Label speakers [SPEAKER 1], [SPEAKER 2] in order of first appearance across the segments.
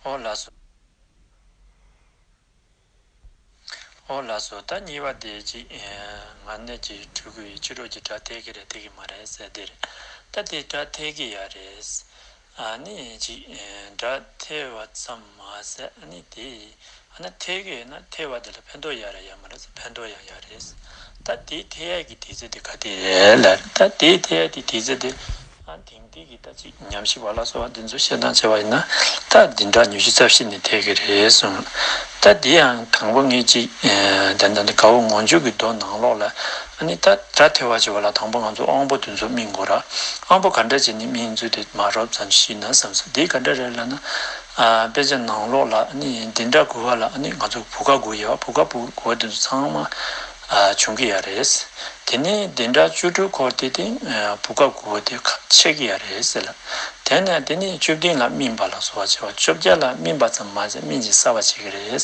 [SPEAKER 1] ཨོ་ལགས་སོ། ཨོ་ལགས་སོ་ད་གཉིས་པ་དེ་གཅིག་ང་ནད་ཀྱི་ཕྲུ་གུ་ཡིས་ཕྱི་དྲོ་གྱི་སྒྲ་ཐད་ཀི་རེད་ཐད་ཀི་མ་རེད་ཟེར་དེ་རེད་ད་དེ་སྒྲ་ཐད་ཀི་ཡ་རེད། ཨ་ནི་གཅིག་སྒྲ་ཐད་བ་ཙམ་མ་ཟད་ཨ་ནི་དེ་ཨ་ན་ཐའི་གི་ཨ་ན་ཐའི་བ་དེ་ལ་ཕན་ཐོག་ཡག་རེད་ཡག་མ་རེད་ཕན་ཐོག་ཡང་ཡག་རེད། ད་དེའི་ཐའི་ཡ་གི་དེ་ཚོ་དེ་ག་དེ་རེད་ལ་རེད་ད་དེའི་ཐའི་ཡ་དེ་དེ་ཚོ་དེ་ཨ་ན་དེང་དུས་ཀྱི་ད་ཅིག་ཉམས་ཞིབ་བ་ལ་སོགས་དེ་ཚོ་བཤད་སྟངས་བྱས་བ་ཡིན་ན་ད་དེ་འདྲ་ཉུ་ཤི་རྩ་བཤིག་ནས་ཐའི་གི་རེད་གསུང། ད་དེ་ཡང་གང་པོ་ངེད་ཅིག་དེ་འདྲ་འདི་ག་བོ་ངོ་མཇུག་གི་མདོ་ནང་ལོགས་ལ་ཨ་ནི་ད་དྲ་ཐའི་བ་བྱས་བ་ལ་དང་པོ་ང་ཚོ་དབང་པོ་དེ་ཚོ་སྨིན་དགོས་ར་དབང་པོ་ག་འདྲ་བྱས་ནས་སྨིན་ཚུལ་དེ་མ་རོབ་ཙམ་ཤི་ན་བསམ་སོང་དེ་ག་འདྲ་རེད་ལ་ན། དཔེ་ཆ་ནང་ལོགས་ལ་འདི་འདྲ་དགོས་བ་ལ་ང་ཚོ་བུ་ག་དགོས་ཡ་བ་བུ་ག་བུ་ག་དགོས་བ་ཚང་མ་བྱུང་གི་ཡ་རེད། དེ་ནས་འདི་འདྲ་བཅུ་དྲུག་འཁོར་དེ་སྟེང་བུ་ག་དགོས་བ་དེ་ཁ་ཕྱེ་གི་ཡ་རེད་ཟེར་ལ། དེ་ནས་དེ་ནས་བཅུ་བདུན་ལ་སྨིན་པ་ལ་སོགས་བྱ་བ་བཅོ་བརྒྱད་ལ་སྨིན་པ་ཙམ་མ་ཟད་སྨིན་བྱེད་གསར་བ་བྱེད་ཀྱི་རེད།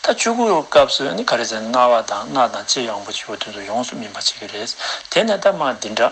[SPEAKER 1] ད་བཅུ་དགུ་བའི་སྐབས་སུ་ག་རེ་ཟེར་ན་རྣ་བ་དང་སྣ་དང་ལྕེ་ཡང་བུ་བཅུ་བ་དེ་ཚོ་ཡོངས་སུ་སྨིན་པ་བྱེད་ཀྱི་རེད། དེ་ནས་ད་མ་འདི་འདྲ།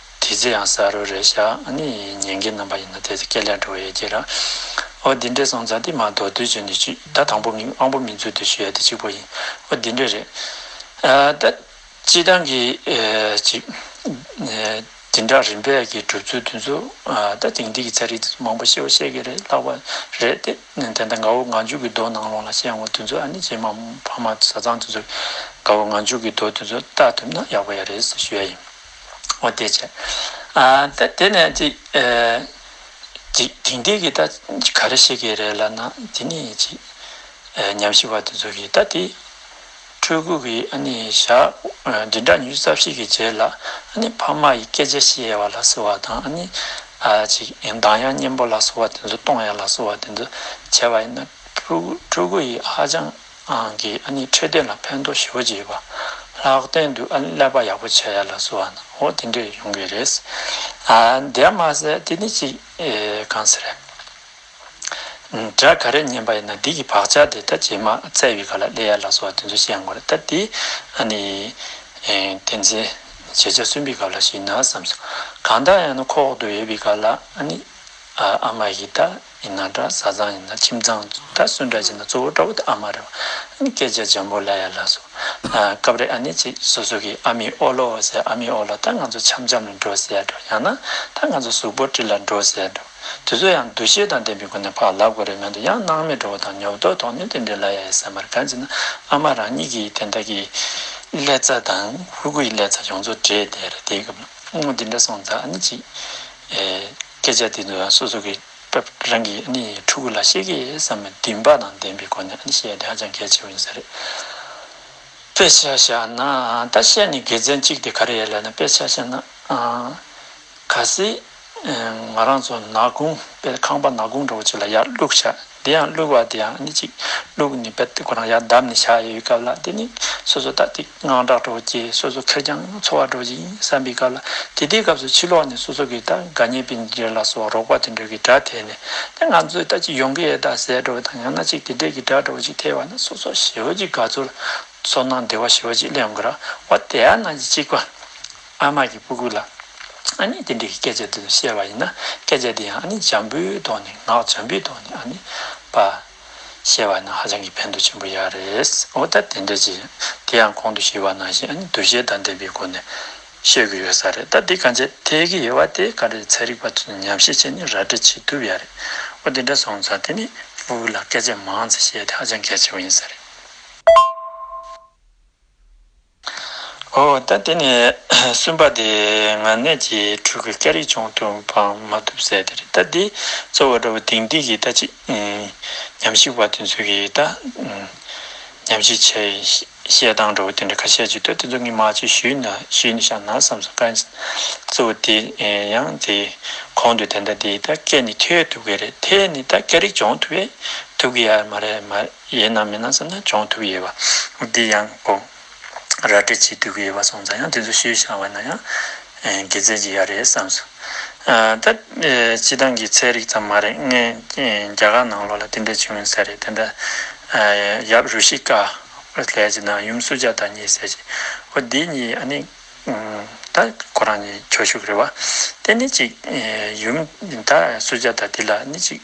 [SPEAKER 1] དེ་ཚོ་ཡང་ཟ་རུ་རེད་ཤག་ཨ་ནི་ཉན་གི་རྣམ་པ་ཡིན་ན་དེ་ཚོ་སྐད་ལེགས་འགྲོ་བ་ཡོད་ཀྱི་རགས་ཨོ་དེ་འདྲས་སོང་ཙང་དེ་མ་གཏོགས་བསྡུ་བྱེད་འདི་ཅི་ད་དང་པོ་མིང་དབང་པོ་མིང་མཛོད་དུ་ཞུ་ཡ་དེ་གཅིག་པོ་ཡིན་ཨོ་དེ་འདྲས་རེད་ཨ་ད་སྤྱི་བཏང་གི་ཅིག་དེ་འདྲ་རིམ་པས་ཀྱི་གྲུབ་ཚུལ་དེ་ཚོ་ད་དེང་དུས་ཀྱི་ཚན་རིག་དེ་ཚོ་མང་པོ་ཤེས་བ་ཤེས་ཀྱི་རེད་ལྷག་པ་རེད་དེ་དེ་འདྲ་འགའ་བོ་ང་འཇུག་གི་རྡོ་ནང་ལོང་ལ་ཤེས་ཡོང་བ་དེ་ཚོ་ཨ་ནི་རྗེས་མ་ཕ་མ་བཟའ་ཚང་དེ་ཚོ་འགའ་བོ་ང་འཇུག་གི་རྡོ་དེ་ཚོ་ལྟ་ཐུབ་ན་ཡག་པོ་ཡ་རེད་ཟེར་ཞུ་ཡ་ཡིན། འོ་དེ་བྱས། ད་དེ་ནས་ཅིག་ཅིག་དེང་དུས་ཀྱི་ད་ག་རེ་བཤད་ཀྱི་རེད་ལབ་ན་དེ་ནས་ཅིག་ཉམས་ཞིབ་བར་དུ་འཛུགས་ཀྱི་ད་དེ་ཕྲུ་གུ་གི་ཨ་ནི་ཞག་བདུན་ཕྲག་ཉུས་རྩ་བཞི་གི་རྗེས་ལ་ཨ་ནི་ཕ་མ་ཡི་སྐད་ཆ་བཤད་ཡ་བ་ལ་སོ་བ་དང་ཨ་ནི་ཅིག་གདངས་དབྱངས་སྙན་པོ་ལ་སོ་བ་དེ་ཚོ་གཏོང་ཡ་ལ་སོ་བ་དེ་ཚོ་བྱས་པ་ཡིན་ན་ཕྲུ་གུ་ཕྲུ་གུ་ཡི་ཧ་ཅང་གི་ཨ་ནི་འཕྲོད་བསྟེན་ལ་ཕན་ཐོགས་ཞེ་བོ་བྱེད་པ་ལྷག་བསྟན་དུ་ཨ་ནི་ཀླད་པ་ཡག་པོ་བྱས་ཡ་ལགས་སུ་འང་ཧོ་དེ་འདྲས་ཡོང་གི་རེད། དེའང་མ་ཟད་དེ་ནི་ཅིག་གང་ཟེར། སྒྲ་ག་རེ་ཉན་པ་ཡིན་ན་དེ་གི་བག་ཆགས་དེ་ད་རྗེས་མ་བཙལ་བའི་ག་ལ་ཀླད་ཡ་ལགས་སུ་འང་དེ་ཚོ་ཤེས་འགོ་རེད་ད་དེ་ཨ་ནི་བསྟན་འཛིན་བྱེད་རྗེས་གསོན་པའི་ག་ལ་ཞིག་ཡིན་ན་བསམ་སོང་གང་དག་ཡང་ན་ཁོག་ཏུ་ཡོད་པའི་ག་ལ་ཨ་ནི་ཨ་མ་གི་ད། ཡིན་ན་འདྲ་བཟའ་ཚང་ཡིན་ན་ཁྱིམ་ཚང་འདྲ་སུ་འདྲ་བྱས་ན་གཙོ་བོ་དགྲ་བོ་དེ་ཨ་མ་རེད་བ། སྐད་ཆ་འཇམ་པོ་ལ་ཡ་ལ་སོ། སྐབས་རེ་ཨ་ནེ་ཅིག་སོ་སོ་གིས་ཨ་མའི་ཨོ་ལོ་ཟེར་ཨ་མའི་ཨོ་ལོ་ད་ང་ཚོ་འཆམ་འཆམ་ལ་འགྲོ་ཟེར་འགྲོ་ཡང་ན་ད་ང་ཚོ་གཟུགས་པོ་དྲི་ལ་འགྲོ་ཟེར་འགྲོ། དེ་ཚོ་ཡང་འདུ་ཤེས་དང་ལྡན་པའི་སྒོ་ནས་ཕ་ལབ་དགོས་རེད་མོད་འདི་ཡང་སྣང་མེད་འགྲོ་བ་དང་ཉོབ་ཏོག་དོགས་གནོན་དེ་འདྲས་ལ་ཡ་ཡ་ཟེར་མ་རེད་གང་ཅེ་ན་ཨ་མ་རང་ཉིད་ཀྱིས་དེ་འདྲ་གི་ཀླད་རྩ་དང་ཧུར་ཁུ་ཡི་ཀླད་རྩ་ཡོངས་རྫོགས་བྲེས་བསྡད་རེད་དེའི་སྐབས་ལ་ཨ་མ་འདི་འདྲ་སོང་ཙང་ཨ་ནེ་ཅིག། སྐད་ཆ་དེ་ཚོ་སོ་སོ་གི་སྐབས་རང་གི་ཕྲུ་གུ་ལ་ཤེས་ཀྱི་བསམ་པའི་འདུན་པ་དང་ལྡན་པའི་སྒོ་ནས་བཤད་ཡ་དེ་ཧ་ཅང་གལ་ཆེ་བོ་ཡིན་ས་རེད། དཔེ་ཆ་བཞག་ན་ད་བཤད་ནས་དགེ་མཚན་གཅིག་དེ་ག་རེ་ཡ་ལབ་ན་དཔེ་ཆ་བཤད་ན་ག་སྲིད་ང་རང་ཚོ་ནག་ཁུང་དཔེ་ཁང་པ་ནག་ཁུང་འདྲ་བོ་ཅིག་ལ་ཡར་བླུགས་བྱ་དེ་ཡང་བླུག་བ་དེ་ཡང་གཉིས་གཅིག་བླུག་ནས་བལ་ཏིག་གོ་རང་ཡར་བསྡམས་ནས་བཞག་ཡོད་སྐབས་ལ་དེ་ནི་སོ་སོ་ལྟ་སྟེགས་དངངས་སྐྲག་སྤྲོ་བོ་སྐྱེས་སོ་སོ་ཁེར་རྐྱང་འཚོ་བ་འགྲོ་བཞིན་བསམ་པའི་སྐབས་ལ་དེ་ལྟའི་སྐབས་སུ་ཕྱི་ལོགས་ནས་སོ་སོ་གི་ད་གའ་ཉེ་པའི་འདྲེ་ལ་སོགས་རོགས་པ་དུད་འགྲོ་གི་དགྲ་ཐེ་ནས་ད་ང་ཚོའི་ལྟ་ཅི་ཡོང་གི་ཨེ་ད་ཟས་སྤྲོ་བོ་དང་ཡང་ན་ཅིག་དེ་འདྲེ་གི་དགྲ་སྤྲོ་བོ་ཅིག་ཐེ་བ་ན་སོ་སོ་ཞི་བ་ཅིག་ག་ཚོད་ཚོར་སྣང་བདེ་བ་ཞི་བ་ཅིག་སླེབས་འགོ་ར་བ་དེ་ཡང་ན་གཅིག་པ། ཨ་དམག་གི་སྤུ་གུ་ལ་ཨ་ནི་དེ་འདྲའི་སྐད་ཆ་དེ་ཚོ་བཤད་པ་ཡིན་ན་སྐད་ཆ་དེ་ཡང་ཨ་ནི་འཇམ་པོའི་ཐོག་ནས་ངག་འཇམ་པོའི་ཐོག་ནས་ཨ་ནི་པ་བཤད་པ་ནི་ཧ་ཅང་གི་ཕན་ཐོགས་ཆེན་པོ་ཡག་རེད་འོ་ད་དེ་འདྲ་ཅིག་དེ་ཡང་གོང་དུ་ཞུས་པ་ནང་བཞིན་ཨ་ནི་འདུ་ཤེས་དང་ལྡན་པའི་སྒོ་ནས་བཤད་གི་ཡོད་ས་རེད་ད་དེ་ག་འཇལ་ཐེ་གི་ཡོད་བ་དེ་ག་རེད་ཚན་རིག་པ་ཚོས་ནི་ཉམས་བཞེས་བྱས་ནས་ར་སྤྲོད་བྱེད་ཐུབ་ཡག་རེད་འོ་དེ་འདྲ་སོང་ཙང་དེ་ནས་སྤུ་གུ་ལ་སྐད་ཆ་མང་ཙམ་བཤད་དེ་ཧ་ཅང་གལ་ཆེན་པོ་ཡིན་ས་རེད། འོ་ད་དེ་ནས་སུན་པ་དེ་ང་གནས་ཀྱི་ཕྲུ་གུ་སྐྱ་རིས་ཆུང་དུ་འཕང་མ་ཐུབ་ཟེར་དེ་རེད་ད་འདི་གཙོ་བོ་འདྲ་བོ་དེང་དུས་ཀྱི་ད་ཅིག་ཉམས་ཞིབ་བ་དེ་ཚོ་གིས་ད་ཉམས་ཞིབ་བྱས་བཤད་སྟངས་འདྲ་བོ་དེ་འདྲ་ཁ་ཤས་ཅིག་འདུག་དེ་ཚོ་ངས་མ་བྱོས་ཞུས་ན་ཞུས་ནས་བཞག་ན་བསམ་སོང་དཀའ་གཙོ་བོ་དེ་ཡང་དེ་གོང་དུ་དེ་འདྲ་དེ་ད་སྐད་ནི་ཐོས་ཐུབ་ཀྱི་རེད་དེ་ནི་ད་སྐྱ་རིས་སྦྱོང་ཐུབ་པས་ཐུབ་ཀྱི་ཡ་མ་རེད་མ་རེད། ཡས་ནང་མི་ནང་བསམ་ན་སྦྱོང་ཐུབ་ཡས་བ་འདི་ཡང་དགོངས། ར་སྤྲད་བྱེད་སྡུད་ཀྱི་ཡས་བ་སོང་ཙང་ཡང་དེ་ཚོ་ཤེས་ཡོད་ཤང་བ་ན་ཡང་དགེ་རྩེ་གྱི་ཡ་རེད་བསམ་སོང། ད་སྤྱི་བཏང་གི་ཚད་རིག་ཙམ་མ་རེད་ངས་རྒྱ་གར་ནང་ལོག་ལ་དེ་འདྲ་བྱུང་ཡོད་ཟེར་རེད་དེ་འདྲ་ཡབ་རུ་ཤི་ཀ་ལས་ཀྱི་ནང་ཡུམ་སུ་ཇ་ད་གཉིས་ཟེར་གྱི་བ་འདི་གཉིས་ཨ་ནི་ད་ཁོ་རང་གཉིས་ཁྱོ་ཤུག་རེད་བ་དེ་ནི་གཅིག་ཡུམ་ད་སུ་ཇ་ད་འདི་ལ་ནི་གཅིག།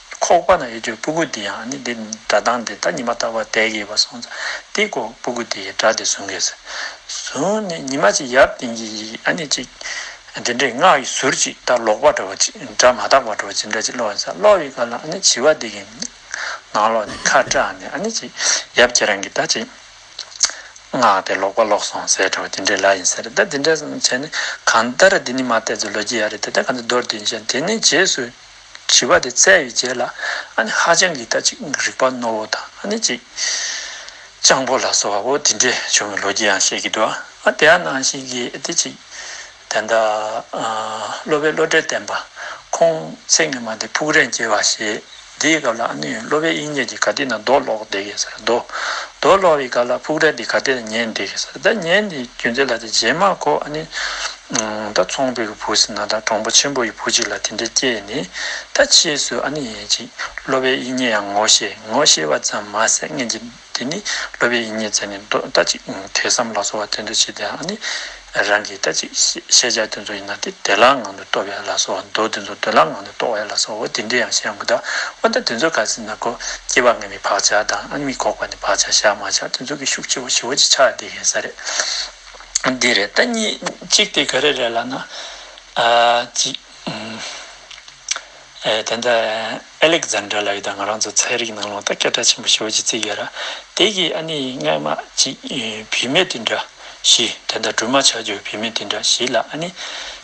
[SPEAKER 1] ཁོག་པ་ན་ཡོད་ཀྱི་སྤུ་གུ་འདི་ཡང་ནི་འདི་སྒྲ་གདངས་འདི་ལྟར་ཉི་མ་ལྟ་བུ་དལ་གྱིས་པ་སོང་སྟེ་ཀོ་སྤུ་གུ་དེའི་སྒྲ་དེ་ཟུང་གིས་ཟུང་ནས་ཉི་མ་ཅིག་ཡབ་དེང་གི་ཡིག་ཨ་ནི་ཅིག། དེ་འདྲའི་སྔགས་ཡི་ཟུར་ཅིག་ལྟར་ལོག་པ་འདྲ་བ་ཅིག་སྒྲ་མ་དག་པ་འདྲ་བ་ཅིག་འདྲ་ཅིག་ལོག་ཡིན་ས་ལོག་ཡིན་ག་ལ་ཨ་ནི་བྱི་བ་འདི་གི་ནང་ལོག་ནས་ཁ་བཀྲ་ནས་ཨ་ནི་ཅིག་ཡབ་ཁྱེད་རང་གི་ད་ཅིག། སྔགས་དེ་ལོག་པ་ལོག་སོང་ཟེར་འདྲ་བ་དེ་འདྲའི་ལ་ཡིན་ཟེར་ད་དེ་འདྲ་བྱས་ནས་གང་ལྟར་དེ་ནི་མ་བལྟས་ཚུལ་ལོ་རྒྱུས་ཡག་རེད་དེ་ལྟར་གང་ཚེ་རྡོར་དེ་ཡིན་ཞེས་དེ་ནས་རྗེས་སུ། དྲི་བ་དེ་བཙལ་བའི་རྗེས་ལ་ཨ་ནེ་ཧ་ཅང་གིས་ད་ཅིག་རིག་པ་རྣོ་བོ་དང་ཨ་ནེ་ཅིག་སྤྱང་པོ་ལ་སོགས་བ་བོ་དེ་འདྲས་བྱུང་བའི་ལོ་རྒྱུས་ཡང་བཤད་ཀྱི་འདུག་ཨ་དེ་ཨ་ན་ཞིག་གིས་དེ་ཅིག་དེ་འདྲ་སློབ་པའི་བློ་གྲོས་བརྟན་པ་ཁོང་ཚེ་ངེད་མ་དེ་ཕུག་རན་སྐྱེ་བ་ཞེས་འདིའི་སྐབས་ལ་ཨ་ནེ་ཡོན་སློབ་པའི་དབྱིག་གཉེན་གྱི་ག་དེ་ན་རྡོ་སློག་བསྡད་ཀྱི་ཟེར་རྡོ་སློག་བའི་སྐབས་ལ་ཕུག་རན་དེ་ག་དེ་ན་ཉལ་འདེད་ཀྱི་ཟེར་ད་ཉལ་འདེད་རྒྱུ་མཛད་ལ་དེ་རྗེས་མ་ཁོ་ཨ་ནེ་ད་ཚོང་པའི་གི་བུ་ཟིན་ན་ད་གྲོང་པོ་ཆེན་པོ་ཡི་བུ་ཅིག་ལ་དེ་འདྲའི་སྐྱེ་ཡི་ནི་ད་ཕྱིས་སུ་ཨ་ནི་ཡེ་ཅིག་སློབ་པའི་ཡིད་ཉེ་ཡང་ངོ་ཤེས་ངོ་ཤེས་པ་ཙམ་མ་ཟད་ངེད་ཀྱི་དེ་ནི་སློབ་པའི་ཡིད་ཉེ་བརྩེ་ནས་འདོད་ད་ཅིག་དེ་བསམ་ལགས་སོ་བ་དེ་འདྲ་བྱེད་དེ་ཨ་ནི་རང་གིས་ད་ཅིག་ཤེས་བྱ་དེ་ཚོ་ཡིན་ན་དེ་བདེ་བླག་ངང་དུ་སྟོབས་ཡ་ལགས་སོ་བ་འདོད་དེ་ཚོ་བདེ་བླག་ངང་དུ་རྟོགས་ཡ་ལགས་སོ་བ་དེ་འདྲའི་ཡང་ཤེས་ཡ་མི་ད་འོ་ད་དེ་ཚོ་ག་ཟིན་ན་གོ་སྐྱེ་བ་ངན་པའི་བག་ཆགས་དང་ཨ་ནི་མི་ཁོག་པ་ནི་བག་ཆགས་བཞག་མ་བཞག་དེ་ཚོ་གི་ཤུགས་ཆེ་བ་ཞི་བ་ཅིག་ཆགས་དེ་ཤེས་ས་རེད། འདི་རེད་ད་གཉིས་གཅིག་དེ་ག་རེ་རེད་ལབ་ན། དེ་འདྲ་ཨེ་ལེག་ཛན་དྲ་ལགས་ཀྱིས་ང་རང་ཚོ་ཚན་རིག་ནང་ལོག་ད་སྐད་གྲགས་ཆེན་པོ་ཞོར་གྱི་རྩིས་ཀྱི་ར་དེ་གི་ཨ་ནི་རྔན་མ་གཅིག་བུད་མེད་དེ་འདྲ་བཞི་དེ་འདྲ་སྦྲུམ་མ་ཆགས་རྒྱུ་བུད་མེད་དེ་འདྲ་བཞི་ལ་ཨ་ནི།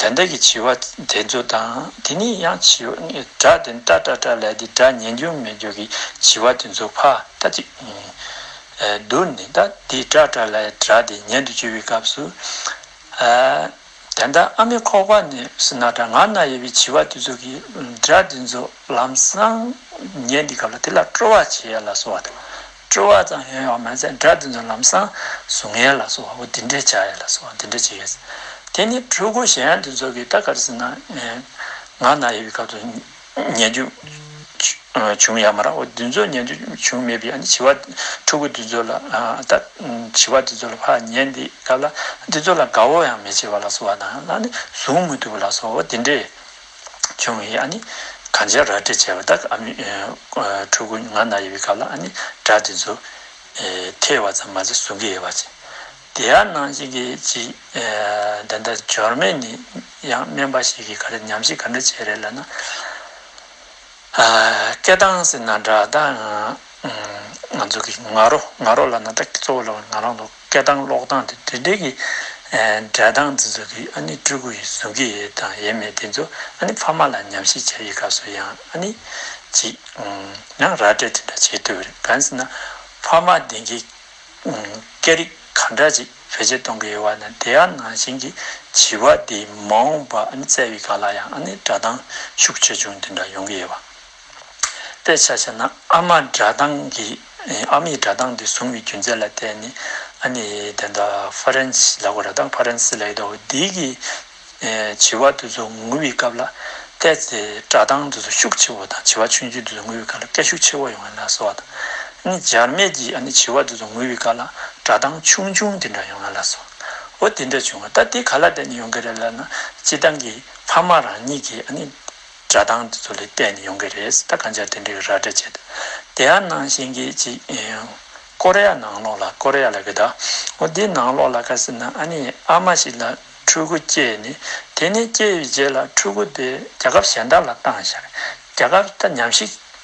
[SPEAKER 1] དེ་འདྲ་གི་བྱིས་བ་དེ་ཚོ་དང་དེ་ནས་ཡང་བྱིས་བ་དགྲ་དེ་འདྲ་དྲ་དྲ་ལས་དེ་འདྲ་ཉན་རྒྱུ་མེད་རྒྱུ་གི་བྱིས་བ་དེ་ཚོ་ཕ་ད་ཅིག་བསྡུར་ནས་ད་དེ་དྲ་དྲ་ལས་དྲ་དེ་ཉན་དུ་བཅུག་པའི་སྐབས་སུ། དེ་འདྲ་ཨ་མའི་ཁོག་པ་ནས་སུ་ན་དྲ་ང་ན་ཡོད་པའི་བྱིས་བ་དེ་ཚོ་གི་དྲ་དེ་ཚོ་ལམ་སང་ཉན་དེ་སྐབས་ལ་དེ་ལ་སྤྲོ་བ་བྱེད་ཡ་ལ་སོ་བ་དང། སྤྲོ་བ་ཙམ་ཡོད་ཡོད་མ་ཚད་སྒྲ་དེ་ཚོ་ལམ་སང་གཟུགས་བརྙན་ལ་སོགས་བ་འདི་འདྲས་བྱ་ཡོད་ལ་སོགས་བ་འདི་འདྲས་བྱེད་ཡོད། དེ་ནི་ཕྲུ་གུ་གཞན་དེ་ཚོ་གིས་ད་གར་སི་ན་ང་ན་ཡོད་པའི་སྐབས་སུ་ཉན་རྒྱུ་བྱུང་ཡ་མ་རང་བ་དེ་ཚོ་ཉན་རྒྱུ་བྱུང་མེད་པའི་བྱིས་པ་ཕྲུ་གུ་དེ་ཚོ་ལ་ད་བྱིས་པ་དེ་ཚོ་ལ་ཕ་ཉན་དེའི་སྐབས་ལ་དེ་ཚོ་ལ་དགའ་བོ་ཡང་མི་བྱེད་པ་ལ་སོགས་བ་དང་ལ་ནི་གཟུགས་མི་ཐུབ་པ་ལ་སོགས་བ་འདི་འདྲས་ཆུང་བས་ཨ་ནི་གང་བྱས་ར་སྤྲད་བྱས་པ་དག་ཨ་མའི་ཕྲུ་གུ་ང་ན་ཡོད་པའི་སྐབས་ལ་ཨ་ནི་སྒྲ་དེ་ཚོ་ཐོས་བ་ཙམ་མ་ཟད་གཟུང་གི་ཡོད་པ་ཅི་བདེ་ཨ་ནང་བཞིན་གྱི་ཅིག་འདི་འདྲ་འབྱོར་མེད་ནི་ཡང་སྨན་པ་ཞིག་གིས་ག་རེ་ཉམས་ཞིབ་ག་འདྲ་བྱས་རེད་ལབ་ན། སྐད་གདངས་ཟེར་ན་སྒྲ་གདངས་ང་ཚོ་གི་ང་རོ་ང་རོ་ལ་ན་སྒྲ་གཙོ་བོ་ལ་ང་རང་ལོ། སྐད་གདངས་ཀློག་སྟངས་དེ་དེ་འདྲའི་གི་སྒྲ་གདངས་འདི་ཚོ་གི་ཨ་ནི་སྤྲུལ་སྐུ་ཡི་གཟུགས་ཀྱི་ཡས་དང་ཡས་མས་དེ་ཚོ་ཨ་ནི་ཕ་མ་ལ་ཉམས་ཞིབ་བྱ་ཡི་སྐབས་སུ་ཡང་ཨ་ནི་ཅིག་ཡང་ར་སྤྲད་དེ་འདྲ་བྱེད་འདོད་རེད་གང་ཟེར་ན་ཕ་མ་དེ་གི་སྐད་རིག་ག་འདྲ་ཅིག་བེད་སྤྱད་གཏོང་གི་ཡོད་བ་དང་དེའ་ནང་བཞིན་གི་བྱིས་པ་དེའི་མ་འོངས་པ་ཨ་ནི་བརྩེ་བའི་ག་ལ་ཡང་ཨ་ནི་སྒྲ་གདངས་ཤུགས་ཆེ་ཆུང་དེ་འདྲ་ཡོང་གི་ཡོད་བ་དཔེ་ཆ་བྱས་ན་ཨ་མ་སྒྲ་གདངས་ཀྱི་ཨ་མའི་སྒྲ་གདངས་དེ་བཟུང་བའི་རྒྱུ་མཚན་ལ་བརྟེན་ནས་ཨ་ནི་དེ་འདྲ་ཧྥ་རན་སིའི་ལ་གོ་ར་དང་ཕ་རན་སི་ལ་ཡོད་དོ་འདི་གི་བྱི་བ་དེ་ཚོ་ངུ་བའི་སྐབས་ལ་སྐད་ཀྱི་སྒྲ་གདངས་དེ་ཚོ་ཤུགས་ཆེ་བ་དང་བྱི་བ་ཆུང་ཆུང་དེ་ཚོ་ངུ་བའི་སྐབས་ལ་སྐད་ཤུགས་ཆེ་བ་ཡོང་བ་ལ་སོགས་དང། ཨ་ནི་འཇར་མན་གྱི་ཨ་ནི་བྱི་བ་དེ་ཚོ་ངུ་བའི་སྐབས་ལ་སྒྲ་གདངས་ཆུང་ཆུང་དེ་འདྲ་ཡོང་བ་ལ་སོགས་འོ་དེ་འདྲ་བྱུང་བ་ད་དེ་ག་ལ་བརྟེན་ནས་ཡོང་གི་རེད་ལབ་ན་སྤྱི་བཏང་གི་ཕ་མ་རང་ཉིད་ཀྱིས་ཨ་ནི། སྒྲ་གདངས་འདི་ཚོ་ལས་བལྟས་ནས་ཡོང་གི་རེད་ད་གང་ཅག་དེ་འདྲའི་ར་སྤྲེལ་བྱེད་དེ་ཡར་ནང་ཞེན་གྱིས་ཅིག་ཀོ་རེ་ཡ་ནང་ལོག་ལ་ཀོ་རེ་ཡ་ལ་གི་ད་འོ་དེ་ནང་ལོག་ལ་ཁ་སི་ན་ཨ་ནི་ཨ་མ་ཞིག་ལ་ཕྲུ་གུ་སྐྱེས་ནི་དེ་ནི་སྐྱེས་ཡོའི་རྗེས་ལ་ཕྲུ་གུ་དེ་རྒྱ་ཁབ་གཞན་དག་ལ་བཏང་ཞག་རྒྱ་ཁབ་ད་ཉམས་ཞིག།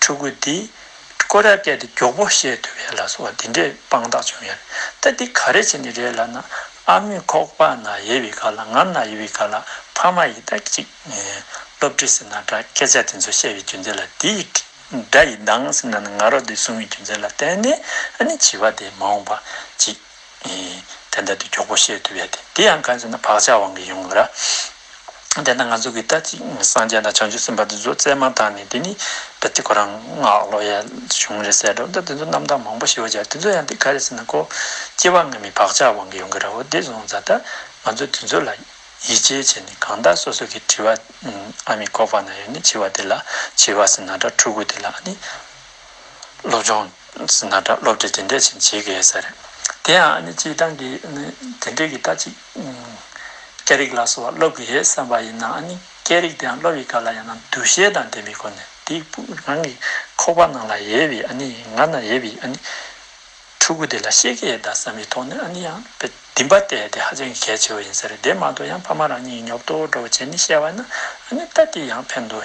[SPEAKER 1] ཕྲུ་གུ་འདི། ཀོ་ར་ཀད་དུ་མགྱོགས་པོ་གཤེགས་ཐུབ་ཡ་ལ་སོགས་འདི་འདྲའི་དཔང་རྟགས་བྱུང་ཡ་རེད་ད་འདི་ག་རེ་བྱེད་ནི་རེད་ལབ་ན་ཨ་མོས་ཁོག་པ་ན་ཡེ་བའི་ག་ལ་ངམ་ན་ཡེ་བའི་ག་ལ་ཕ་མ་ཡི་ད་ཅིག་སློབ་ཁྲིད་ཟེར་ན་འདྲ་སྐད་ཆ་དེ་ཚོ་བཤད་བའི་རྒྱུ་མཚན་ལ་འདི་ཡི་དགྲ་ཡི་སྡང་ཟེར་ན་ནི་ང་རོ་དེ་གསུང་བའི་རྒྱུ་མཚན་ལ་བརྟེན་ནས་ཨ་ནི་བྱིས་པ་དེ་མ་འོངས་པ་ཅིག་དེ་འདྲ་དུ་མགྱོགས་པོ་གཤེགས་ཐུབ་ཡ་དེ་འདི་ཡང་གང་ཟེར་ན་བག་ཆགས་དབང་གིས་ཡོང་གི་ར། དེ་ན་ང་གཟུགས་ཀྱི་ལྟ་ཅི་སངས་རྒྱས་དང་བྱང་ཆུབ་སེམས་དཔའ་འདི་ཚོ་རྩལ་མང་དག་ནས་དེ་ནི་བདུད་རྩི་ཁོ་རང་སྔགས་ཀློག་ཡས་བྱུང་རེད་ཟེར་འགྲོ་དེ་ཚོ་རྣམ་དག་མང་པོ་ཞི་བ་སྦྱར་དེ་ཚོ་ཡང་འདི་ག་རེད་ཟེར་ན་ཀོ་སྐྱེ་བ་སྔ་མའི་བག་ཆགས་དབང་གིས་ཡོང་གི་ར་བོ་འདི་བཟུང་ཙ་ད་ང་ཚོ་དེ་ཚོ་ལ་ཡིད་ཆེས་བྱས་ནས་གང་དག་སོ་སོ་གིས་དྲི་བ་ཨ་མི་ཁོ་པ་ན་ཡོད་ནི་བྱི་བ་དེ་ལ་བྱི་བ་ཟེར་ན་འདྲ་ཕྲུ་གུ་དེ་ལ་ནི་སློབ་སྦྱོང་ཟེར་ན་འདྲ་སློབ་གྲྭས་དེ་འདྲས་བྱིན་བྱེད་ཀྱི་ཡོད་ས་རེད་དེ་ཡང་ཨ་ནི་སྤྱིའི་སྟངས་ཀྱིས་ནི་དེ་འདྲས་ཀྱི་ལྟ་ཅི། སྐད་རིགས་ལ་སོགས་བ་སློབ་དགོས་ཞེས་བསམ་པ་ཡིན་ནའང་སྐད་རིགས་དེའང་སློབ་ཡི་ག་ལ་ཡང་ན་འདུ་ཤེས་དང་ལྡན་པའི་སྒོ་ནས་དེའི་དཔུང་རང་གི་ཁོག་པ་ནང་ལ་ཡལ་བའི་ང་ན་ཡལ་བའི་ཕྲུ་གུ་དེ་ལ་ཤེས་ཀྱི་ཡོད་དམ་བསམ་པའི་ཐོག་ནས་ཡང་བདེན་པ་སྟེ་དེ་ཧ་ཅང་གི་གལ་ཆེ་བ་ཡིན་ཟེར་དེ་མ་གཏོགས་ཡང་ཕ་མ་རང་ཉིད་ཀྱི་ཉོབ་ཏོ་འགྲོ་བ་བྱས་ནས་བཤད་བ་ན་ད་དེ་ཡང་ཕན་དུ་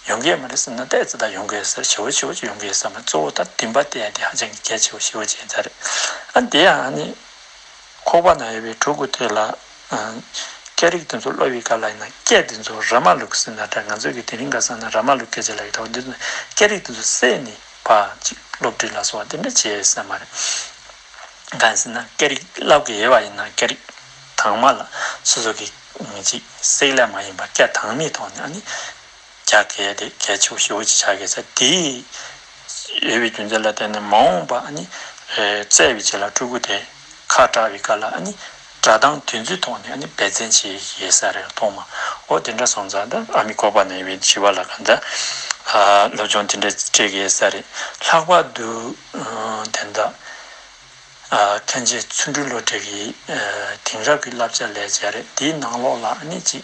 [SPEAKER 1] ཡོང་གི་ཡོད་མ་རེད་བསམ་ན་ད་ཙི་ད་ཡོང་གི་ཡོད་ཟེར་བྱེའུ་བྱེའུ་ཅིག་ཡོང་གི་ཡོད་བསམ་པ་གཙོ་བོ་དང་བདེན་པ་སྟེ་དེ་ཧ་ཅང་གི་གལ་ཆེ་བ་བྱེའུ་བྱེའུ་ཟེར་རེད་དེ་ཡང་ཁོག་པ་ན་ཡོད་པའི་ཕྲུ་གུ་དེ་ལ། སྐད་རིགས་དེ་ཚོ་གློ་བའི་སྐབས་ལ་ཡིན་ན་སྐད་དེ་ཚོ་ར་མ་ལུག་ཟེར་ན་འདྲ་ང་ཚོས་ཀྱི་དེ་རིང་ག་ས་ན་ར་མ་ལུག་སྐད་ཅིག་ལ་ཡོད་དོ་འདི་ཚོ་སྐད་རིགས་དེ་ཚོ་བསྲེས་ནས་བ་ཅིག་སློབ་ཁྲིད་ལ་སོགས་དེ་འདྲ་བྱེད་ས་མ་རེད། གང་ཟེར་ན་སྐད་རིགས་སློབ་གི་ཡོད་པ་ཡིན་ན་སྐད་རིགས་དྭངས་མ་ལ་སོ་སོ་གི་ཅིག་བསྲེས་ལེ་མ་ཡིན་པ་སྐད་དྭངས་མའི་ཐོག་ནས་ཨ་ནི། རྒྱ་གལ་ཏེ་གལ་ཆེ་བ་བཞི་བོ་ཅི་ཆགས་ཀྱི་ཚེ་དེའི་དབྱེ་བའི་རྒྱུ་མཚན་ལ་བརྟེན་ནས་མ་འོངས་པ་ནི་བཙལ་བའི་ཆེད་ལ་སྤྲུལ་སྐུ་དེ་ཁ་བཀྲ་བའི་སྐབས་ལ་ནི་སྒྲ་གདངས་དུས་ཚོད་ཐོག་ནས་འབད་བརྩོན་བྱེད་ཀྱི་ས་རེད་མཐོང་མ་འོ་དེ་འདྲ་སོང་ཙང་ད་ཨ་མི་ཀོ་པ་ན་ཡོད་པའི་བྱིས་པ་ལ་གང་འདྲ་སློབ་སྦྱོང་དེ་འདྲ་སྤྲད་ཀྱི་ས་རེད་ལྷག་པར་དུ་དེ་འདྲ་མཁན་ཆེན་ཚུར་འབྲུག་ལོ་དྲེག་གི་དེང་རབས་ཀྱི་བསླབ་བྱ་ལས་བྱས་རེད་དེའི་ནང་ལོགས་ལ་ནི་ཅིག་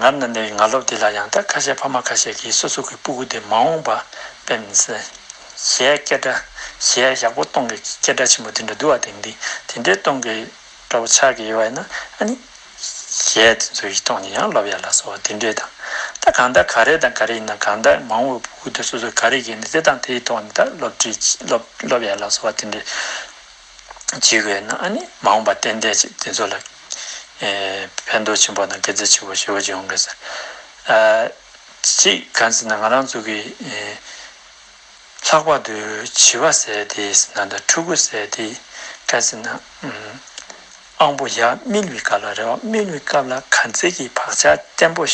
[SPEAKER 1] ངར་ནི་འདི་ང་སློབ་དེ་ལ་ཡང་དག་ཁ་ཤས་ཕ་མ་ཁ་ཤས་ཀྱིས་སོ་སོ་གི་སྤུ་གུ་དེ་མ་འོངས་པར་ཕེབས་ནས་གཞས་སྐད་སྒྲ་གཞས་ཡག་པོ་སྟོང་གི་སྐད་སྒྲ་ཆེན་པོ་དེ་འདྲ་བསྡུ་བ་དེང་དེ་འདྲའི་སྟོང་གི་སྒྲ་བོ་ཆགས་ཀྱི་ཡོད་པ་ཡིན་ན་ཨ་ནི་གཞས་དེ་ཚོ་ཡིག་སྟོང་ནི་ཡང་སློབ་ཡག་ལ་སོགས་དེ་འདྲའི་དང་ད་གང་ལྟར་ག་རེ་དང་ག་རེ་ཡིན་ན་གང་ལྟར་མ་འོངས་པའི་སྤུ་གུ་དེ་སོ་སོ་ག་རེ་བགྱིས་ནས་དེ་དང་དེའི་ཐོག་ནས་ད་སློབ་ཁྲིད་སློབ་ཡག་ལ་སོགས་དེ་འདྲའི། བྱས་བས་ན་ནི་མ་འོངས་པ་རྟེན་འབྲེལ་ཅིག་དེ་ཚོ་ལ་ཕན་འདོགས་ཆེན་པོ་དང་དགེ་རྩ་ཆེན་པོ་ཞེ་བོ་འབྱུང་གི་ཟེར། གཅིག་གང་ཟེར་ན་ང་རང་ཚོ་གི་ལྷག་པར་དུ་བྱི་བ་ཟེར་དེ་ཟེར་ན་དང་ཕྲུ་གུ་ཟེར་དེ་ག་ཟེར་ན། དབང་པོ་ཡབ་སྨིན་བའི་སྐབས་ལ་རེ་བ་སྨིན་བའི་སྐབས་ལ་གར་མཛད་ཀྱི་བག་ཆགས་བརྟན་པོ།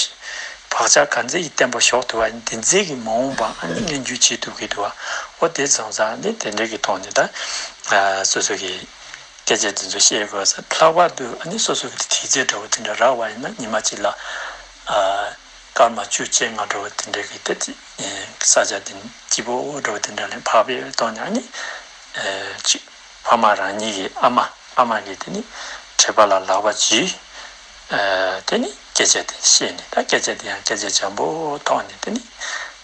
[SPEAKER 1] བག་ཆགས་གར་མཛད་ཀྱི་བརྟན་པོ་ཞོག་དུ་བ་འདི་མཛད་ཀྱི་མ་འོངས་པ་ཨ་ནི་སྔས་འགྱུར་བྱེད་དུ་གི་དུ་བ་འོ་དེ་བཟང་བཟང་ནི་དེ་འདྲ་གི་ཐོག་ནས་ད་སོ་སོ་གི་སྐད་ཆ་འདི་ཚོ་བཤད་དགོས་ས་ལྷག་པར་དུ་ཨ་ནི་སོ་སོ་གི་དེ་དེའི་རྫས་འདྲ་བོ་དེ་འདྲ་རག་བ་ཡིན་ན་ཉི་མ་གཅིག་ལ་སྐར་མ་བཅུ་བཅས་ལྔ་འགྲོ་བ་དེ་འདྲ་གི་ད་ཅི་ས་ཆ་འདི་སྐྱིད་པོ་འོ་འགྲོ་བ་དེ་འདྲ་ལས་འཕགས་པའི་ཐོག་ནས་ཨ་ནི་ཅིག། ཕ་མ་རང་ཉིད་ཀྱི་ཨ་མ་ཨ་མ་ནི་དེ་ནི་བྲིས་པ་ལ་ལག་པ་གྱིས་དེ་ནི་སྐད་ཆ་དེ་བཤད་ནས་ད་སྐད་ཆ་དེ་ཡང་སྐད་ཆ་འཇམ་པོ་ཐོག་ནས་དེ་ནི་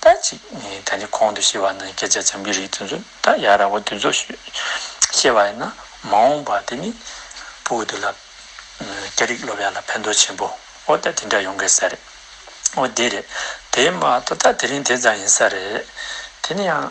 [SPEAKER 1] ད་ཅིག་ད་ནི་གོང་དུ་བཤད་པ་ན་སྐད་ཆ་འཇམ་གྱི་རིགས་དེ་ཚོ་ད་ཡ་ར་བོ་དེ་ཚོ་བཤད་པ་ཡིན་ན་མ་འོངས་པ་དེ་ནི་བུ་དེ་ལ་སྐད་རིགས་སློབ་ཡ་ལ་ཕན་ཐོག་ཆེན་པོ་འོ་ད་དེ་འདྲ་ཡོང་གི་ས་རེད་འོ་དེ་རེད་དེ་མ་ད་ད་དེ་རིང་དེ་ཙམ་ཡིན་ས་རེད་དེ་ནི་ཡང།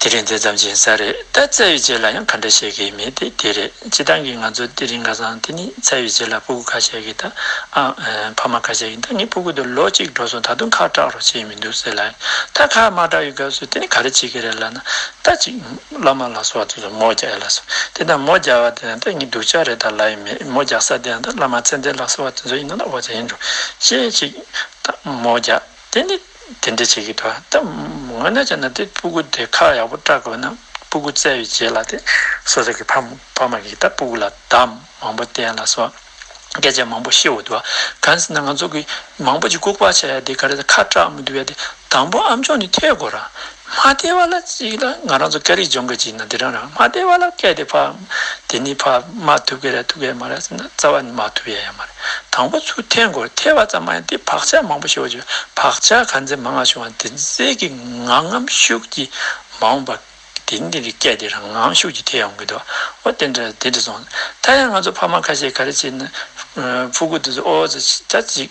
[SPEAKER 1] དེ་རིང་དེ་ཙམ་གྱིས་ས་རེད་ད་ཚད་ཡོད་ཅེས་ལ་ཡང་ག་འདྲ་བྱེད་ཀྱི་མེད་དེ་དེ་རེད་སྤྱི་བཏང་གི་ང་ཚོ་དེ་རིང་ག་སང་དེ་ནི་ཚད་ཡོད་ཅེས་ལ་སྤུ་གུ་ག་བྱེད་ཀྱི་ད་ཨང་ཕ་མ་ག་བྱེད་ཀྱི་ད་ངས་སྤུ་གུ་དེ་ལོ་གཅིག་འགྲོ་སོང་ད་དུང་ཁག་སྐྲག་རོགས་བྱས་མི་འདུག་ཟེར་ལ་ད་ཁག་མ་སྐྲག་ཡོད་སྐབས་སུ་དེ་ནི་ག་རེ་བྱེད་ཀྱི་རེད་ལ་ན་ད་ཅིག་བླ་མ་ལགས་སོ་དེ་ཚོ་མོ་རྒྱག་ཡ་ལ་སོ་དེ་ད་མོ་རྒྱག་བ་དེ་ཡང་ད་ངའི་སྡུག་ཅག་རེད་ད་ལ་ཡིན་མེད་མོ་རྒྱག་ས་དེ་ཡང་ད་བླ་མ་ཚེ་འདས་ལགས་སོ་བ་དེ་ཚོ་ཡིན་ན་ད་འོ་ཅག་ཡིན་འགྲོ་ཤེས་ཅིག་ད་མོ་རྒྱག། དེ་ནི་དེ་འདྲ་བྱེད་ཀྱི་འདུག་ད་ངོ་ནས་བྱས་ན་དེ་སྤུ་གུ་དེ་ཁ་ཡག་པོ་བཀྲ་དགོས་ན་སྤུ་གུ་བཙལ་བའི་རྗེས་ལ་དེ་སོ་སོ་གི་ཕ་ཕ་མ་གིས་ད་སྤུ་གུ་ལ་འདམ་མང་པོ་བསྟན་ལ་སོགས་སྐད་ཆ་མང་པོ་བཤད་འོ་འདུག་ག་གང་ཟེར་ན་ང་ཚོ་གིས་མང་པོ་ཅིག་ལྐུག་པ་བྱས་ཡ་དེ་ག་རེ་ད་ཁ་བཀྲ་མི་འདུག་ཡ་དེ་དང་པོ་ཨམ་ཆོག་ནི་ཐེག་དགོས་ར་མ་བལྟས་བ་ལ་གཅིག་ལ་ང་རང་ཚོ་སྐད་རིགས་སྦྱོང་མཁན་གཅིག་ཡིན་ན་འདི་རང་རང་མ་བལྟས་བ་ལ་སྐད་དེ་ཕ་དེ་ནི་ཕ་མ་ཐུག་གི་རེད་ཐུག་གི་མ་རེད་ཟེར་ན་རྩ་བ་ནས་མ་ཐུག་ཡ་ཡ་མ་རེད་དང་པོ་ཚུར་འཐེན་དགོས་འཐེན་བ་ཙམ་མ་ཡིན་དེ་བག་ཆགས་མང་པོ་ཤོར་བའི་བག་ཆགས་གང་ཚེ་མང་ང་བྱུང་བ་དེ་ཚེ་གི་ང་ངམ་ཤུགས་ཀྱིས་མ་འོངས་པ་དེ་འདི་རིགས་སྐད་དེ་རང་ངམ་ཤུགས་ཀྱིས་འཐེན་ཡོང་གི་འདུག་ཨོ་དེ་འདྲ་དེ་འདྲ་སོང་ད་ཡང་ང་ཚོ་ཕ་མ་ཁ་ཤས་ག་རེ་བྱས་ནས་ཕུ་གུ་དེ་ཚོ་ཨོ་ཙི་ད་ཅིག།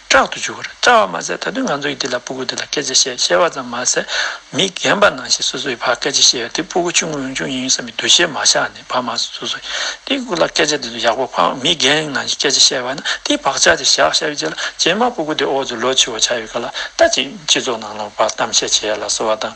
[SPEAKER 1] སྐྲག་ཏུ་འཇུག་གོ། སྐྲག་བ་མ་ཟད་ད་དུང་ང་ཚོ་ཡིས་འདི་ལ་སྤུ་གུ་འདི་ལ་སྐད་ཆ་བཤད་ཤེས་པ་ཙམ་མ་ཟད། མི་རྒན་པ་ནང་བཞིན་སོ་སོ་ཡི་བར་སྐད་ཆ་བཤད་ཡོད་དེ་སྤུ་གུ་ཆུང་ངུ་རང་བྱུང་ཡིན་ཡིན་བསམ་པའི་འདུ་ཤེས་མ་བཞག་ནས་བར་མ་ཟད་སོ་སོ་ཡིས་སྤུ་གུ་ལ་སྐད་ཆ་འདི་ཚོ་ཡག་པོ་ཕངས་མི་རྒན་ནང་བཞིན་སྐད་ཆ་བཤད་པ་ན་དེའི་བག་ཆགས་དེ་བཞག་བཞག་པའི་རྗེས་ལ་རྗེས་མར་སྤུ་གུ་དེ་འོག་ཏུ་ལོ་ཕྱི་བ་ཆགས་ཡོད་ག་ལ་ད་ཅིག་སྤྱི་ཚོགས་ནང་ལ་བར་གཏམ་བཤད་བྱས་ལ་སོ་བ་དང།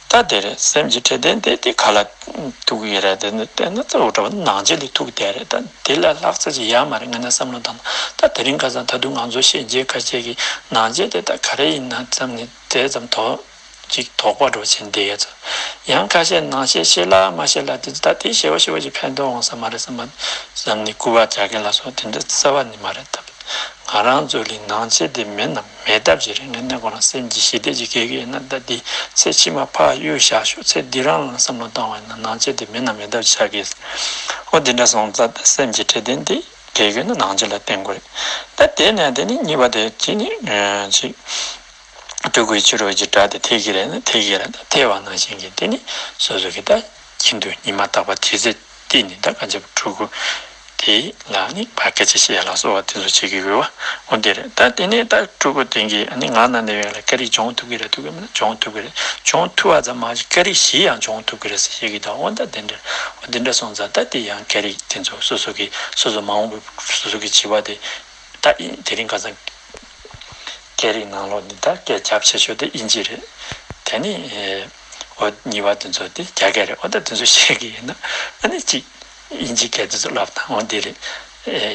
[SPEAKER 1] ད་དེར་སེམས་ཀྱི་འཕྲལ་བདེན་བདེན་དེ་ག་ལ་ཐུག་གི་རེད་དེ་ནི་དེ་ན་རྩ་བའི་གྲོགས་པོ་ནང་བྱེད་ལས་ཐུག་བསྡད་རེད་ད་དེ་ལ་ལྷག་ཚ་ཅི་ཡ་མ་རེད་ངས་ན་བསམ་བློ་བཏང་ན་ད་དེ་རིང་ཁ་སང་ད་དུང་ང་ཚོ་ཤེས་རྒྱས་དཀའ་སྤྱད་ཀྱི་ནང་བྱེད་དེ་ད་ག་རེ་ཡིན་ན་བསམ་ནས་དེ་ཙམ་དོག་ཅིག་དོག་པ་འགྲོ་བྱེད་འདི་ཡ་ཚོ་ཡང་ཁ་ཤས་ནང་བཤད་ཤེས་ལ་མ་ཤེས་ལ་དེ་ད་དེ་ཤེས་བ་ཤེས་བ་ཅིག་ཕན་ཐོག་འོང་ས་མ་རེད་བསམ་བསམ་ནས་སྐུར་བ་རྒྱག་མཁན་ལ་སོགས་དེ་འདྲ་བརྩེ་བ་ནི་མ་རེད་ད་ང་རང་ཚོ་ལས་ནང་བྱེད་དེ་མེད་ནམ། མེད་ཐབས་ཀྱི་རིང་ལ་གནས་གོང་ལ་སེམས་ཀྱི་ཞི་བདེ་ཅིག་གེ་གེ་ན་ད་དེ་ཚེ་ཕྱི་མ་འཕགས་ཡུལ་བཞག་ཤོག་ཚེ་འདི་རང་ལ་བསམ་བློ་བཏང་བས་ན་ནང་ཆོས་དེ་མེད་ན་མེད་ཐབས་ཅིག་བྱ་དགོས། ཨོ་དེ་འདྲ་སོང་ཙ་ད་སེམས་ཀྱི་འཕྲལ་བསྟུན་དེ་གེ་གེ་ན་ནང་ཆོས་ལ་བརྟེན་དགོས་རེད། ད་དེ་ནས་དེ་ནི་གཉིས་པ་དེ་གཅིག་ནི། ཅིག། སྤྲུལ་སྐུའི་ཕྱི་རོལ་གྱི་སྒྲ་དེ་ཐེག་གེ་རེད་ན་ཐེག་གེ་རེད་ད་ཐེག་བ་ནང་བཞིན་གྱི་དེ་ནི་སོ་སོ་གི་ད་ཀྱི་འདུག་ཉི་མ་དག་པ་དེ་ཚེ་འདི་ནི་འདའ་ཀ་འཇབ་པའི་ཕྲུ་གུ་དེ་ལ་ནི་བ་ཀ་ཅི་ཞེས་ལགས་སོ་བ་དེ་ཚོ་བྱེད་ཀྱི་ཡོད་བ་འདི་རེད་ད་དེ་ནས་ད་ཕྲུ་གུ་དེ་གའི་ནི་ང་ན་ནི་བས་ལ་ཀ་རིགས་སྦྱོང་ཐུབ་ཀྱི་རེད་ཐུབ་ཀྱི་མིན་ན་སྦྱོང་ཐུབ་ཀྱི་རེད་སྦྱོང་ཐུབ་བ་ཙམ་མ་གཅིག་ཀ་རིགས་བཞི་ཡང་སྦྱོང་ཐུབ་ཀྱི་རེད་ཟེར་བཤད་ཀྱི་འདུག་བ་འདའ་དེ་འདྲ་བ་འདི་འདྲ་སོང་ཙང་ད་དེ་ཡང་ཀ་རིགས་དེ་ཚོ་སོ་སོ་གི་སོ་སོ་མ་འོངས་པའི་སོ་སོ་གི་བྱིས་བ་དེ་ད་ཨིན་དེ་རིང་ཁ་སང་ཀ་རིགས་ནང་ལོག་ནས་ད་སྐད་རྒྱབ་བྱེད་ཆོག་དེ་ཨིན་ཅི་རེད་དེ་ནི་ཨོ། གཉིས་པ་དེ་ཚོ་དེ་རྒྱ་སྐད་རེད་ཨོ་ད་དེ་ཚོ་ཤེས་ཀྱི་ཡིན་ན་ཨ་ནི་གཅིག་དབྱིན་ཇིའི་སྐད་དེ་ཚོ་བསླབ་དང་འོ་འདི་རེད།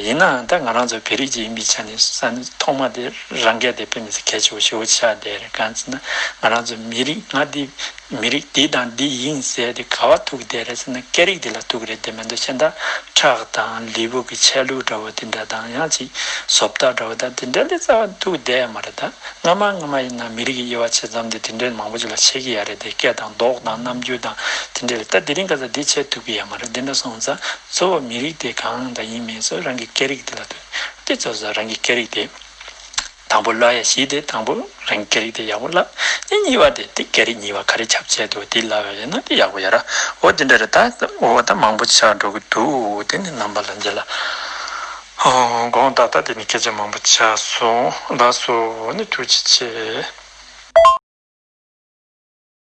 [SPEAKER 1] ཡིན་ནའང་ད་ང་རང་ཚོ་བེ་རི་རྗེ་ཡིན་པའི་ཆ་ནས་ས་ནི་ཐོག་མ་དེ་རང་སྐད་དེ་ཕེབས་མི་སྲིད་གལ་ཆེ་བོ་ཞི་བོ་ཆགས་བསྡད་རེད་གང་ཚེ་ན་ང་རང་ཚོ་མི་རིགས་ང་འདི་མི་རིགས་འདི་དང་འདི་ཡིན་ཟེར་དེ་ག་བ་ཐུག་བསྡད་རེད་ཟེར་ན་སྐད་རིགས་དེ་ལ་ཐུག་རེད་དེ་མིན་དུ་ཕྱི་ཟླ་ཁྲག་དང་ལི་བུ་གི་ཆལ་ལུགས་འདྲ་བོ་དེ་འདྲ་དང་ཡང་གཅིག་ཟོབ་རྟགས་འདྲ་བོ་དང་དེ་འདྲ་ལས་རྩ་བ་ཐུག་བསྡད་ཡ་མ་རེད་ད། སྔ་མ་སྔ་མ་ཡིན་ན་མི་རིགས་ཀྱི་དབྱེ་བ་ཕྱེ་ཙམ་དེ་དེ་འདྲའི་མང་པོ་ཅིག་ལ་ཕྱེ་གི་ཡ་རེད་དེ་སྐད་དང་མདོག་དང་རྣམ་འགྱུར་དང་དེ་འདྲ་རེད་ད་དེ་རིང་ག་ས་འདི་ཕྱེ་ཐུབ་གི་ཡ་མ་རེད་དེ་འདྲ་སོང་ཙང་གཙོ་བོ་མི་རིགས་དེ་གང་དང་ཡིན་མིན་སོགས་རང་གི་སྐད་རིགས་དེ་ལ་ལྟོས་ཏེ་གཙོ་བོ་རང་གི་སྐད་རིགས་དེ་དང་པོ་སླ་ཡ་ཞིག་དེ་དང་པོ་རང་གི་སྐད་རིགས་དེ་ཡག་པོ་སླ་དེ་གཉིས་པ་དེ་དེ་སྐད་རིགས་གཉིས་པ་ག་རེ་ཁྱབ་བྱེད་དུ་དེ་སླ་བ་ཡིན་ན་དེ་ཡག་པོ་ཡ་རོ་དེ་འདྲ་རེད་ད་འོ་ད་མང་པོ་ཆགས་འགྲོ་གི་འདུག་དེ་ནི་རྣམ་པ་ལ་འཇལ་ལ། དགོངས་དག་ད་དེ་ནས་སྐད་ཆ་མང་པོ་བྱ་སོང་ལགས་སོ་ནི་ཐུགས་རྗེ་ཆེ།